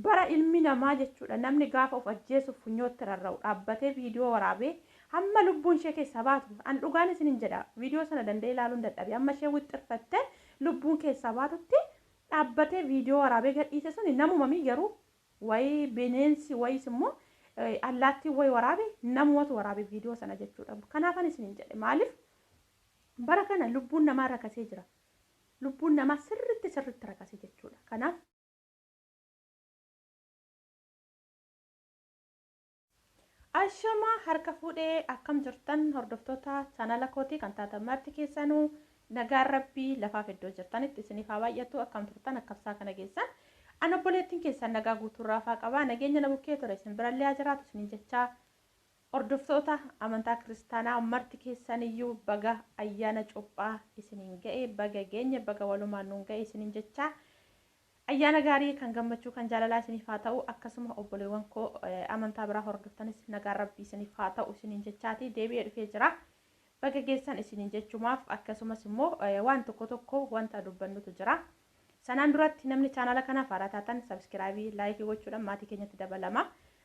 Bara ilmi namaa jechuudha namni gaafa of ajjeesuuf funyootti rarra'u dhaabbatee viidiyoo waraabee hamma lubbuun ishee keessaa baatu an dhugaan isinin jedha viidiyoo sana danda'ee ilaaluun dadhabe amma ishee wixxirfatte lubbuun keessaa baatutti dhaabbatee viidiyoo waraabee gadhiise suni namuma mii garuu wayi bineensi wayis immoo allaattiin wayi waraabe namumatu waraabe viidiyoo sana jechuudha kanaafan isinin jedhe maaliif bara kana lubbuun namaa rakasee jira lubbuun namaa sirritti sirritti rakase jechuudha kanaaf Ashama harka fuudhee akkam jirtan hordoftoota chaanala kootii kan taatan marti keessanuu nagaan rabbii lafaaf iddoo jirtanitti isiniif haa baay'atu akkam turtan akkabsaa kana geessan an obboleettiin keessan nagaa guutuu raafaa qabaa nageenya na bukkee ture isin birallee haa jiraatu isiniin jechaa Hordoftoota amantaa kiristaanaa marti keessan iyyuu baga ayyaana cuuphaa isiniin ga'e baga geenye baga walumaan nuun ga'e isiniin jechaa ayyaana gaarii kan gammachuu kan jaalalaa isiniif haa ta'u akkasuma obboleewwan koo eh, amantaa biraa hordoftanis nagaan rabbii isiniif haa ta'u isiniin jechaati deebi'ee dhufee jira baga geessan isiniin jechumaaf akkasumas immoo eh, waan tokko tokko wanta dubbannutu jira Sanaan duratti namni chaanaala kanaaf haaraa taatan sabskiraayibii, laayikii gochuudhaan maatii keenyatti dabalamaa.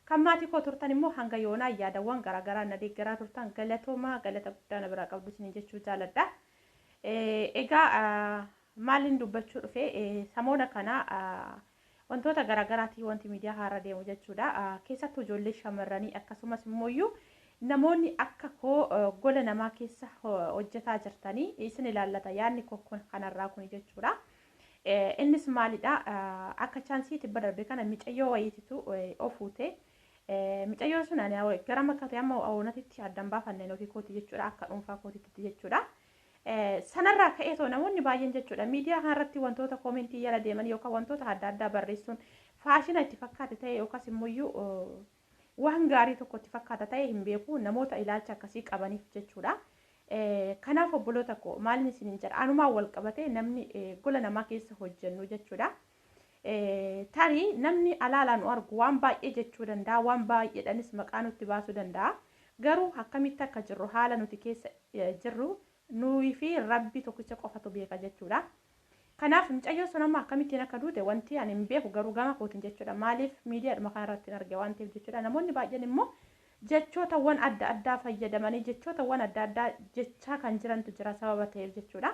Kan maatii koo turtan immoo hanga yoonaa yaadawwan garaagaraan na deeggaraa turtan galatoomaa galata guddaa na biraa qabdu isiniin jechuu jaaladha. Egaa maaliin dubbachuu dhufe samoona kana Wantoota garaagaraati wanti miidiyaa haarra deemu jechuudha. Keessattuu ijoollee shamarranii akkasumas immooyyuu namoonni akka koo gola namaa keessa hojjetaa jirtanii isin ilaallata yaadni koo kun kanarraa kun jechuudha. Innis maalidha akka chaansii tibba darbe kana micayyoo wayiititu ofuute. Micayyoo sun ani gara makkate amma oonatitti addan baafanneen ofii kooti jechuudha akka dhuunfaa kootitti jechuudha. Sanarraa ka'ee too namoonni baay'een jechuudha miidiyaa kanarratti wantoota koomentii jala deeman yookaan wantoota adda addaa barreessuun faashina itti fakkaate ta'e yookaas immoo waan gaarii tokko itti fakkaata ta'e hin beeku namoota ilaalcha akkasii qabaniif jechuudha. Kanaaf obboloota koo maalin isiniin jedha anumaan wal qabatee namni gola namaa keessa hojjennu jechuudha. Tarii namni alaalaa nu argu waan baay'ee jechuu danda'a, waan baay'eedhanis maqaa nutti baasuu danda'a. Garuu akkamitti akka jirru, haala nuti keessa jirru nuyi fi Rabbi tokkicha qofatu beeka jechuudha. Kanaaf mucayyoon sun amma akkamittiin akka duute wanti ani hin beeku garuu gama kootiin jechuudha. Maaliif miidiyaadhuma kanarratti hin arge waan ta'eef jechuudha. Namoonni baay'een immoo jechootawwan adda addaa fayyadamanii jechootawwan adda addaa jechaa kan jirantu jira sababa ta'eef jechuudha.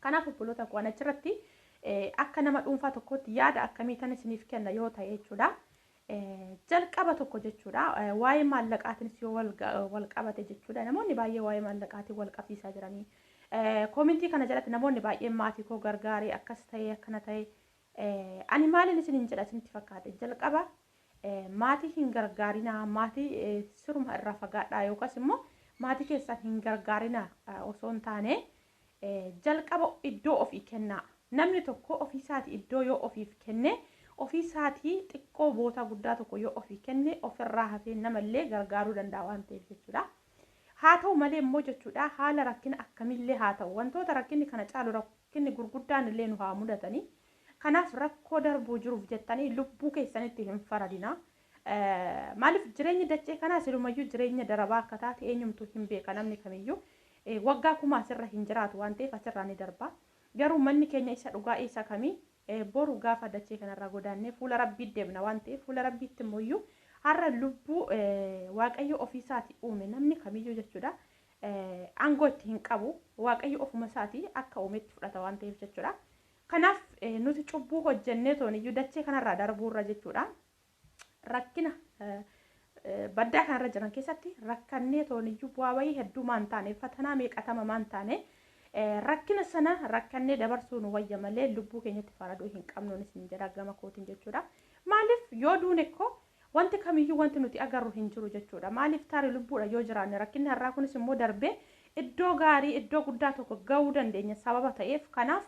Kanaaf obboloota koo an achirratti akka nama dhuunfaa tokkootti yaada akkamii tan isiniif kenna yoo ta'e jechuudha. Jalqaba tokko jechuudha. Waa'ee maallaqaatiinis yoo wal qabate jechuudha. Namoonni baay'ee waa'ee maallaqaatiin wal qabsiisaa jiranii. Koomintii kana jalatti namoonni baay'een maatii koo gargaaree akkas ta'ee akkana ta'ee ani maaliin isin hin jedha isinitti fakkaate jalqaba maatii hin gargaarinaa maatii siruma irraa fagaadhaa yookaas immoo maatii keessan hin gargaarinaa osoo hin taane Jalqaba iddoo ofii kennaa. Namni tokko ofii isaatii iddoo yoo ofiif kenne, ofii isaatii xiqqoo bootaa guddaa tokko yoo ofii kenne, ofirraa hafee namallee gargaaruu danda'a waan ta'eef jechuudha. Haa ta'u malee immoo jechuudha haala rakkina akkamiillee haa ta'u wantoota rakkinni kana caalu rakkinni gurguddaan illee nu haa mudatanii kanaaf rakkoo darbuu jiruuf jettanii lubbuu keessanitti hin faradinaa Maaliif jireenyi dachee kanaa silumayyuu jireenya darabaa akka taate eenyumtuu hin beeka namni kamiyyuu waggaa kuma asirra hin jiraatu waan ta'eef asirraa ni darba. Garuu manni keenya isa dhugaa isa kamii boru gaafa dachee kanarraa godaannee fuula rabbii deemna waan ta'eef fuula rabbiitti immoo har'a lubbuu waaqayyo ofiisaati uume namni kamiyyuu jechuudha. Aangoo itti hin qabu waaqayyo ofuma isaati akka uumetti fudhata waan ta'eef jechuudha. Kanaaf nuti cubbuu hojjennee tooniyyuu dachee kanarraa darbuurra jechuudha. rakkina baddaa kanarra jiran keessatti rakkannee tooniyyuu bu'aa bayii hedduu maan taane fatanaa meeqatama maan taane rakkina sana rakkannee dabarsuu nu wayya malee lubbuu keenyatti faraduu hin qabnuun isin jedha gama kootiin jechuudha. Maaliif yoo duune koo wanti kamiyyuu wanti nuti agarru hin jiru jechuudha. Maaliif taari lubbuudha yoo jiraanne rakkinni har'aa kunis immoo darbee iddoo gaarii iddoo guddaa tokko ga'uu dandeenya sababa ta'eef kanaaf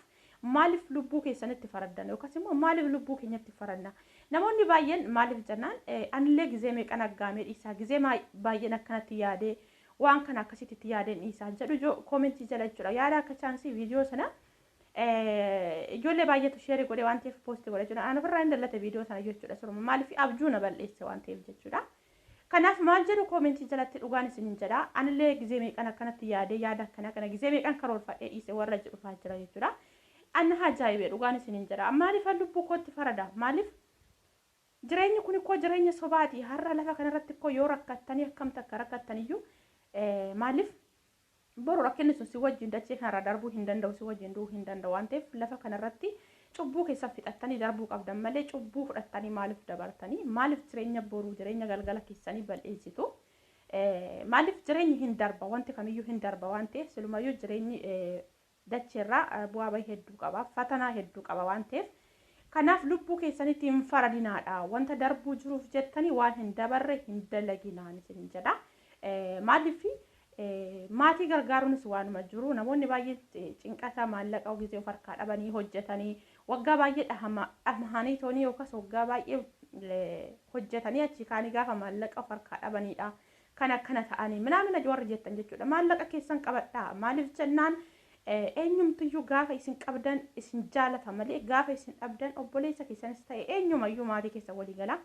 Maaliif lubbuu keessanitti faraddan yookaas immoo maaliif lubbuu keenyatti faradna? Namoonni baay'een maaliif jennaan anillee gizee meeqan aggaamee dhiisaa gizee baay'een akkanatti yaadee waan kana akkasitti itti yaadeen dhiisaa jedhu ijoo koomentii jala jechuudha. Yaada akka chaansii viidiyoo sana ijoollee baay'eetu sheerii godhee waan ta'eef poosti godha jechuudha. Ani ofirraa hin dallate viidiyoo sana jechuudha. Suruma maaliif abjuu na bal'eesse waan ta'eef jechuudha. Kanaaf maal jedhu comment jalatti dhugaan isinin jedha anillee gizee meeqan akkanatti yaadee yaada akkana kana gizee meeqan karoorfadhee dhiise warra jedhu fa'aa jira jechuudha. Anna haa jaa'ibee dhugaan isinin jedha maaliif lubbuu kootti farada maaliif jireenyi kun koo jireenya sobaati har'a lafa kanarratti koo yoo rakkattanii akkam takka rakkattaniyyuu maaliif Boru rakkinni sun si wajjin dachee kana irraa darbuu hin danda'u, si wajjin du'uu hin danda'u. Waan ta'eef lafa kana irratti cubbuu keessan fixattanii darbuu qabdan malee cubbuu fudhattanii maaliif dabartanii? Maaliif jireenya boruu, jireenya galgala keessanii bal'insitu? Maaliif jireenyi hin darba, wanti kamiyyuu hin darba waan ta'eef silumayyuu jireenyi dachee irraa bu'aa bahii hedduu qaba fatanaa hedduu qaba waan ta'eef kanaaf lubbuu keessanitti hin faradinaadha wanta darbuu jiruuf jettanii waan hin dabarre hin dalaginaan isinin jedha maaliif maatii gargaaruunis waanuma jiru namoonni baay'een cinqata maallaqa gisee of harkaa dhabanii hojjetanii waggaa baay'ee dhamahanii toonii yookaas waggaa baay'ee hojjetanii achii kaanii gaafa maallaqa of harkaa dhabaniidha kan akkana ta'anii minaamina warri jettan jechuudha maallaqa keessan qabadhaa maaliif jennaan eenyumtiyyuu gaafa isin qabdan isin jaalata malee gaafa isin dhabdan obboleessa keessanis ta'e eenyumayyuu maatii keessa walii gala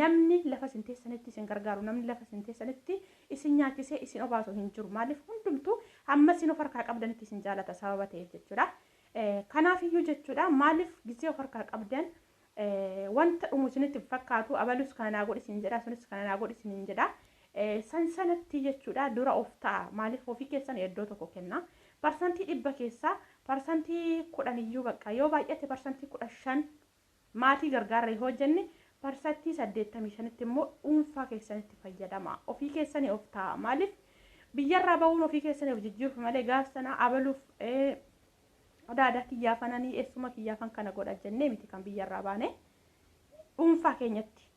namni lafa isin teessanitti isin gargaaru namni lafa isin teessanitti isin nyaachisee isin obaasu hin jiru maaliif hundumtuu hamma isin of harkaa qabdanitti isin jaalata sababa ta'eef jechuudha kanaaf iyyuu jechuudha maaliif gisee of harkaa qabdan Wanta dhumu isinitti hin fakkaatu. Abalus kana naa godhi isin jedha, sunis kana naa godhi isiniin jedha. San sanatti jechuudha dura of ta'a. Maaliif ofii keessan iddoo tokko kenna. Parsantii dhibba keessaa parsantii kudhan iyyuu bakka yoo baay'ate parsantii kudha shan maatii gargaarra yoo hojjenne parsantii saddeettamii shanitti immoo dhuunfaa keessanitti fayyadama. Ofii keessanii of ta'a. Maaliif biyyarraa ba'uun ofii keessanii of jijjiiruuf malee gaaf sana abaluuf Adaada kiyyaa fananii eessuma kiyyaa fan kana godha jennee miti kan biyya irraa baane dhuunfaa keenyatti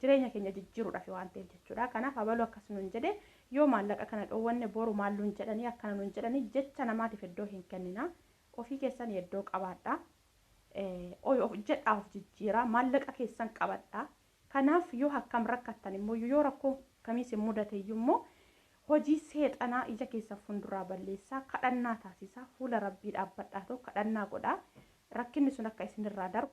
jireenya keenya jijjiiruudhaaf waan ta'eef jechuudha. Kanaaf abaluu akkas nuun jedhe yoo maallaqa kana dhoowwanne boru maal nuun jedhanii akkana nuun jedhanii jecha namaatiif iddoo hin kennina. Ofii keessan iddoo qabaadha. Of jedhaa of jijjiiraa maallaqa keessan qabadha. Kanaaf yoo hakkam rakkattan immooyyu yoo rakkoon kamii sin mudateyyu immoo hojii seexanaa ija keessan funduraa balleessaa kadhannaa taasisaa fuula Rabbii dhaabbadhaatoo kadhannaa godhaa rakkinni sun akka isin irraa darbu.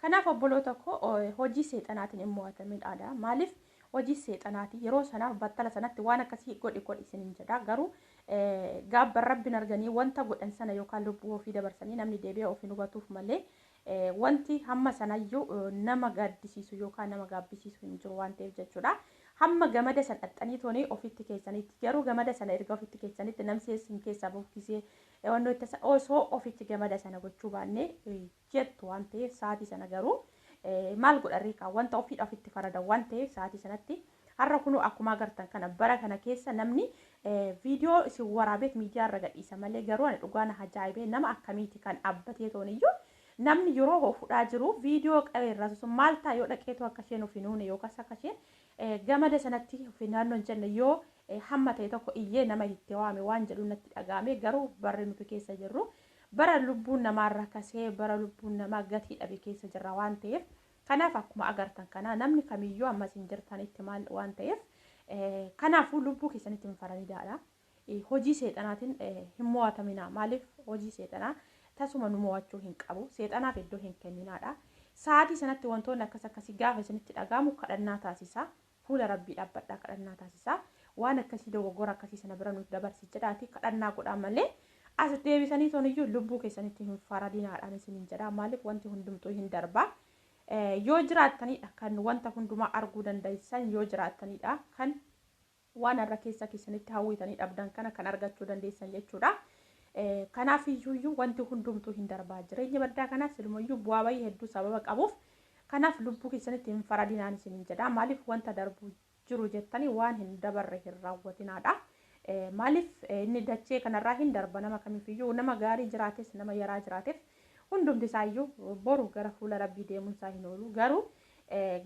Kanaaf obboloota koo hojii seexanaatin hin moo'atamin adaa maaliif hojii seexanaati yeroo sanaaf battala sanatti waan akkasii godhi godhi isin hin jedhaa garuu gaabban Rabbin arganii wanta godhan sana yookaan lubbuu ofii dabarsanii namni deebi'ee of hin hubatuuf malee Wanti hamma sanayyuu nama gaaddisiisu yookaan nama gaabbisiisu hin jiru waan ta'eef jechuudha. Hamma gamada san dhaxxanii toonii ofitti keessanitti garuu gamada sana erga ofitti keessanitti namsi isin keessaa bahu gisee wannoo itti tasa osoo ofitti gamada sana gochuu baannee jettu waan ta'eef sa'aatii sana garuu maal godharree kaa wanta ofiidha ofitti farada waan ta'eef sa'aatii sanatti Har'a kunoo akkuma agartan kana bara kana keessa namni viidiyoo isin waraabeet miidiyaa irra gadhiisa malee garuu ani dhugaa na ajaa'ibee nama akkamiiti kan abbatee toon iyyuu namni yeroo hoo fudhaa jiru viidiyoo qabee irraa sun maal ta'a yoo dhaqeetu akka isheen of hin uune yookaas akka isheen gamada sanatti of hin naannoo hin jenne yoo hamma ta'e tokko iyyee nama itti waame waan jedhu natti dhaga'ame garuu barri nuti keessa jirru bara lubbuun namaa irra kasee bara lubbuun namaa gatii dhabe keessa jirra waan ta'eef Kanaaf akkuma agartan kana namni kamiyyuu amma isin jirtanitti maal waan ta'eef kanaafuu lubbuu keessanitti hin faranidaadha. Hojii seexanaatiin hin mo'ataminaa. Maaliif hojii seexanaa tasuma nu mo'achuu hin qabu. Seexanaaf iddoo hin kenninaadha. Sa'aatii sanatti wantoonni akkas akkasii gaafa isinitti dhaga'amu kadhannaa taasisaa. Fuula Rabbii dhaabbadhaa kadhannaa taasisaa. Waan akkasii dogoggora akkasii sana bira nuuf dabarsi jedhaatii kadhannaa godhaa malee as deebisanii toniyyuu lubbuu keessanitti hin faradinaadhaan isiniin jedhaa maaliif wanti hundumtuu hin darbaa. Yoo jiraattaniidha kan wanta hundumaa arguu dandeessan yoo jiraattaniidha kan waan har'a keessa keessanitti hawwitanii dhabdan kana kan argachuu dandeessan jechuudha. Kanaaf iyyuu wanti hundumtuu hin darbaa jireenya baddaa kanaas ilmayyuu bu'aa bayii hedduu sababa qabuuf Kanaaf lubbuu keessanitti hin faradinaan isiniin jedha. Maaliif wanta darbu jiru jettanii waan hin dabarre hin raawwatinaadha. Maaliif inni dachee kanarraa hin darba nama kamiifiyyuu nama gaarii jiraates nama yaraa jiraateef hundumti isaayyuu boru gara fuula rabbii deemuun isaa hin oolu. Garuu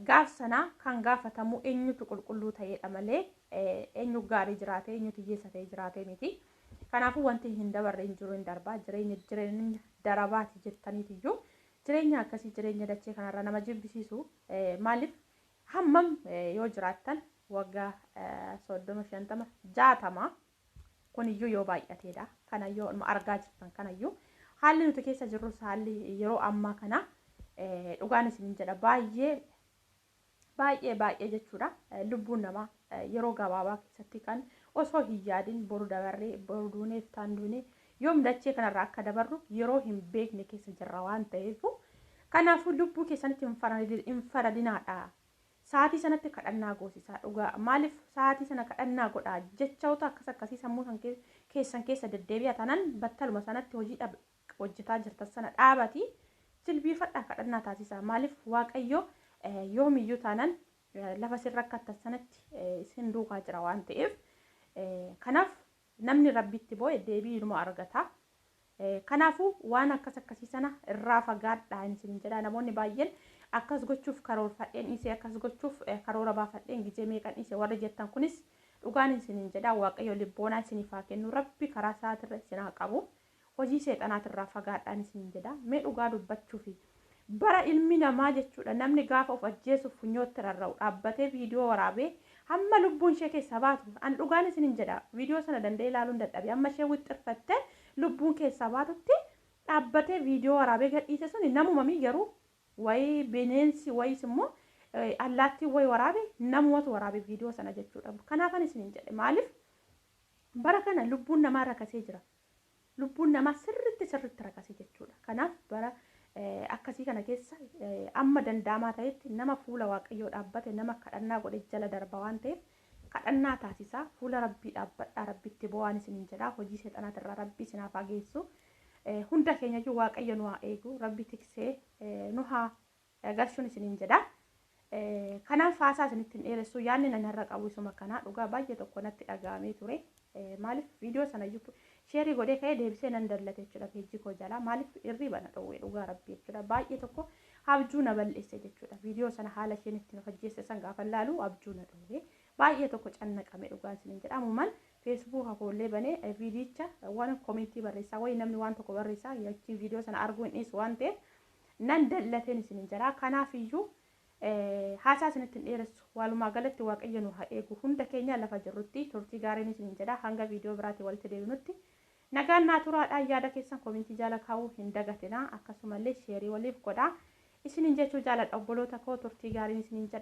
gaaf sana kan gaafatamu eenyutu qulqulluu ta'eedha malee eenyu gaarii jiraate eenyutu hiyyeessa ta'e jiraate miti. Kanaafuu wanti hin dabarre hin jiru hin darba jireenya jireenya darabaati jettaniitiyyuu Jireenya akkasii jireenya dachee kanarra nama jibbisiisu maaliif hammam yoo jiraattan waggaa soddoma shantama jaatama kuniyyuu yoo baay'ateedha kana yoo argaa jirtan kanayyuu haalli nuti keessa jirrus haalli yeroo ammaa kana dhugaan isinin jedha baay'ee baay'ee baay'ee jechuudha lubbuun namaa yeroo gabaabaa keessatti kan osoo hin yaadin boru dabarree boru duunee fitaan duunee yoom dachee kanarraa akka dabarru yeroo hin beekne keessa jirra waan ta'eef kanaafuu lubbuu keessanitti hin faradinaadha. Sa'aatii sanatti kadhannaa goosisaa dhugaa maaliif sa'aatii sana kadhannaa godhaa jechoota akkas akkasii sammuu keessan keessa deddeebi'a tanan battaluma sanatti hojii hojjetaa jirtan sana dhaabati jilbiifadhaa kadhannaa taasisaa maaliif waaqayyo yoomiyyuu taanan lafa isin rakkattan sanatti isin duukaa jira waan ta'eef kanaaf namni rabbitti boo'e deebii inuma argata. Kanaafuu waan akkas akkasii sana irraa fagaadhaa inni isin jedha namoonni baay'een akkas gochuuf karoorfadheen dhiisee akkas gochuuf karoora baafadheen gizee meeqan dhiise warri jettan kunis dhugaan isin jedha waaqayyo libboonaa isiniif haa kennu rabbi karaa isaatirra isin haa qabu Hojii seexanaatirraa fagaadhaan isiniin jedha. Mee dhugaa dubbachuufi bara ilmi namaa jechuudha namni gaafa of ajjeesuuf funyootti rarra'u dhaabbatee viidiyoo waraabee hamma lubbuun ishee keessaa baatu an dhugaan isiniin jedha viidiyoo sana danda'ee ilaaluun dadhabe amma ishee wixxirfattee lubbuun keessaa baatutti dhaabbatee viidiyoo waraabee gadhiise suni namumamii garuu wayi bineensi wayis immoo allaattiin wayi waraabe namumatu waraabe viidiyoo sana jechuudha kanaafan isiniin jedhe maaliif bara kana lubbuun namaa rakasee jira. Lubbuun namaa sirritti sirritti rakasii jechuudha. Kanaaf bara akkasii kana keessa amma danda'amaa ta'etti nama fuula waaqayyoo dhaabbate nama kadhannaa godhe jala darba waan ta'eef kadhannaa taasisaa fuula rabbii dhaabbadhaa rabbitti bo'aan isiniin jedhaa hojii seexanaatirraa rabbii isin haa faageessu. Hunda keenyayyuu waaqayyo nu haa eegu rabbi tiksee nu haa garsuun isiniin jedha. Kanaaf haasaa isinitti hin dheeressuu yaadni nan har'a qabu isuma kanaa dhugaa baay'ee tokko natti dhaga'amee ture. Maaliif viidiyoo sana iyyuu sheerii godhee ka'ee deebisee nan dallate jechuudha peejii koo jalaa maaliif irrii bana dhowwee dhugaa rabbii jechuudha baay'ee tokko abjuu na bal'isse jechuudha viidiyoo sana haala isheen itti nu hojjeesse san gaafa laalu abjuu na dhowwee baay'ee tokko cannaqame dhugaan isiniin jedha ammumaan feesbuuka koollee banee viidiyicha waan komentii barreessaa wayi namni waan tokko barreessaa yachiin viidiyoo sana arguu hin dhiisu waan ta'eef nan dallateen isinin jira kanaaf iyyuu haasaa isinitti hin dheeressu waalumaa galatti waaqayyo nu haa eegu hunda keenya lafa jirrutti turtii gaariin isinin jedha hanga viidiyoo biraatiin walitti deebinutti nagaan naa turaadhaan yaada keessan komintii jaala kaa'uu hin dagatina akkasumallee sheerii waliif godhaa isinin jechuu jaaladha obboloota koo turtii gaariin isinin jedha